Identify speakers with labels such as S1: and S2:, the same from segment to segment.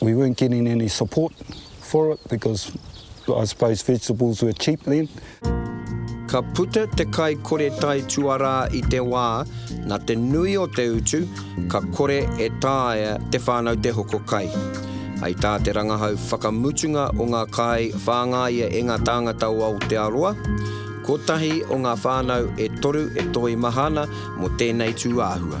S1: We weren't getting any support for it because I suppose vegetables were cheap then. Ka
S2: puta te kai kore tai tuarā i te wā, nā te nui o te utu, ka kore e taea te whānau te hoko kai. Hei tā te rangahau whakamutunga o ngā kai whāngaia e ngā tāngata o Aotearoa, kotahi o ngā whānau e toru e toimaha ana mō tēnei tūāhua.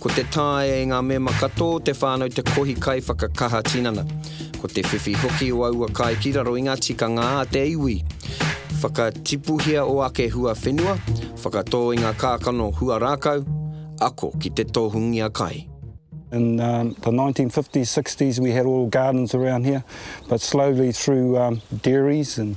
S2: Ko te taea e ngā mema katoa o te whānau te kohi kaiwhakakaha tinana. Ko te whiwhi hoki o aua kai ki raro i ngā tikanga a te iwi. Whakatipuhia o ake hua whenua, whakatō i ngā kākano hua rākau, ako ki te tohungia kai. In the nineteen
S1: fifties, sixties we had all gardens around here but slowly through dairies and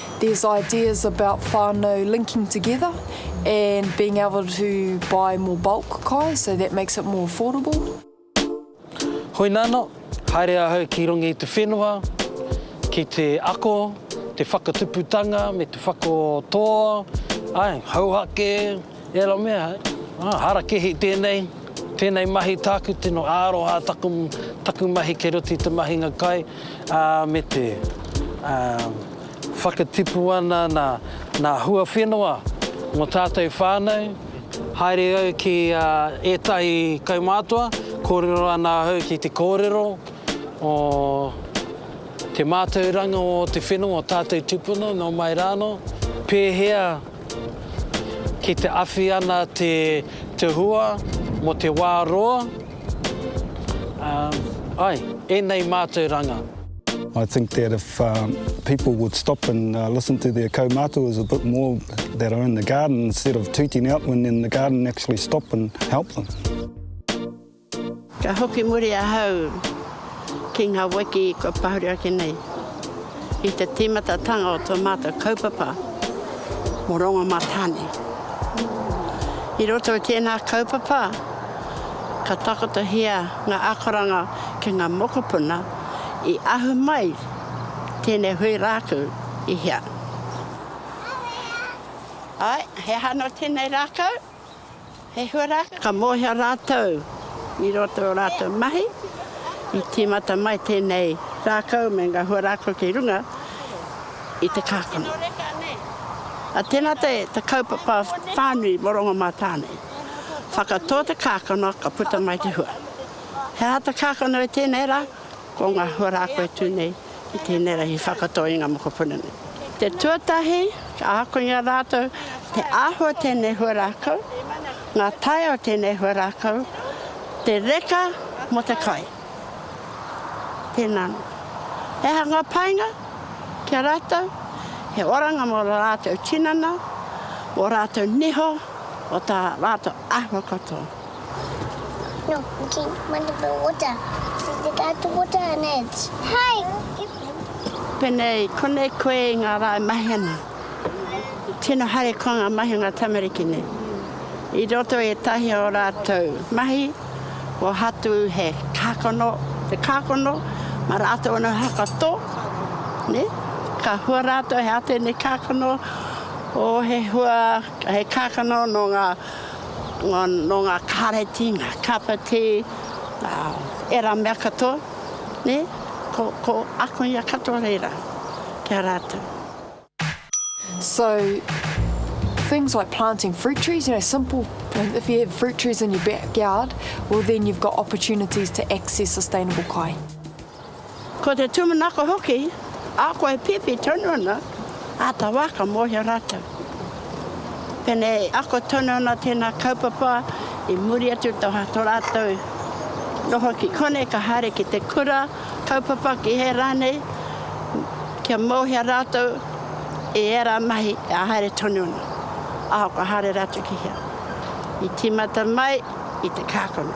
S3: There's ideas about whanau linking together and being able to buy more bulk kai so that makes it more affordable.
S4: Hoi nana, haere ahau ki runga i te whenua ki te ako, te whakatuputanga me te whakatoa, ae, hauhake, Ērā mea, harakihi tēnei, tēnei mahi tāku tino aroha taku, taku mahi kei roto i te mahinga kai, ā, me te, ā, whakatipu ana nā, nā hua whenua mō tātou whānau, haere au ki a ētahi kaumātua, kōrero ana ahau ki te kōrero o te mātauranga o te whenua o tātou tūpuna nō mai rānō, pēhea, Ki te awhi ana te te hua mo te wa roa umm ai enei mātauranga. I think
S1: that if people would stop and listen to their kaumatua a bit more that are in the garden instead of tooting out when they're in the garden actually stop and help them. Ka
S5: hoki muri ahau ki ngā wiki kua pahuri ake nei i te tīmatatanga o tō mātou kaupapa mō Rongomātāne. I roto i tēnā kaupapa, ka takotohia ngā akoranga ki ngā mokopuna i ahu mai tēnei hui rākau i hea. Āe, he aha anō tēnei rākau? He huarahi ka mōhio rātou i roto i ō rātou mahi, i tīmata mai tēnei rākau me ngā huarahi ki runga i te kākano. A tēnā te kaupapa whānui mō Rongomātāne, whakatō te kākano ka puta mai te hua. He aha te kākano i tēnei rā? Ko ngā huaraako e tū nei i tēnei rahi whakatō i ngā mokopuna nei. Te tuatahi, ka ako i a rātou te āhua tēnei huaraako, ngā tae o tēnei huaraako, te reka mō te kai. Tēnā nō. He aha ngā painga ki a rātou? He oranga mō rā rātou tinana, mō rātou niho, mō tā rātou āhua katoa.
S6: No, okay, mana the water. This is the guy to
S5: water and it's hi. Penei, konei koe i ngā rā e mahi ana. Tino haere koa ngā mahi o ngā tamariki nei. I roto i ētahi o rātou mahi, ko Hatu he kākano, te kākano, ma rātou ana hakato, ne? Ka hua rātou he ate nei kākano, o he hua, he kākano no ngā nō ngā kāreti, ngā kapiti, ērā mea katoa, ko ako ia katoa reira ki a rātou. So,
S3: things like planting fruit trees, you know, simple, if you have fruit trees in your backyard, well then you've got opportunities to access sustainable kai.
S5: Ko te tūmanako hoki, ahakoa e pēpi tonu ana, āta wā ka mōhio rātou. Pēnei i ako tonu ana tēnā kaupapa i muri atu tō rātou noho ki konei ka haere ki te kura kaupapa ki hea rānei, kia mōhio rātou i ērā mahi e haere tonu ana, ahakoa haere rātou ki hea. I tīmata mai i te kākano.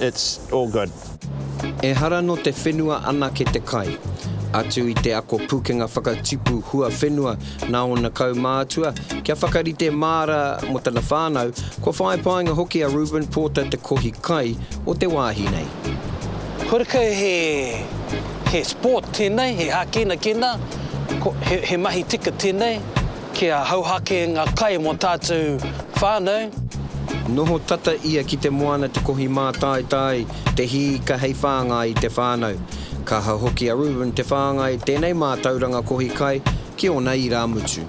S7: It's all good. Ehara
S2: no te whenua anake te kai. Atu i te ako pukenga whakatipu huawhenua na ona kaumātua, kia whakarite māra mo tana whānau, kua whāi painga hoki a Reuben Porter te kohi kai o te wāhi nei. Horekau
S4: he sport tēnei, he hākinakina, he mahi tika tēnei. Kia hauhake nga kai mo tatou whanau. Noho
S2: tata ia ki te moana te kohi mātaitai, te hī ka hei whāngai i te whānau. Ka hau hoki a Reuben te whāngai tēnei mātauranga kohi kai ki ōna irāmutu.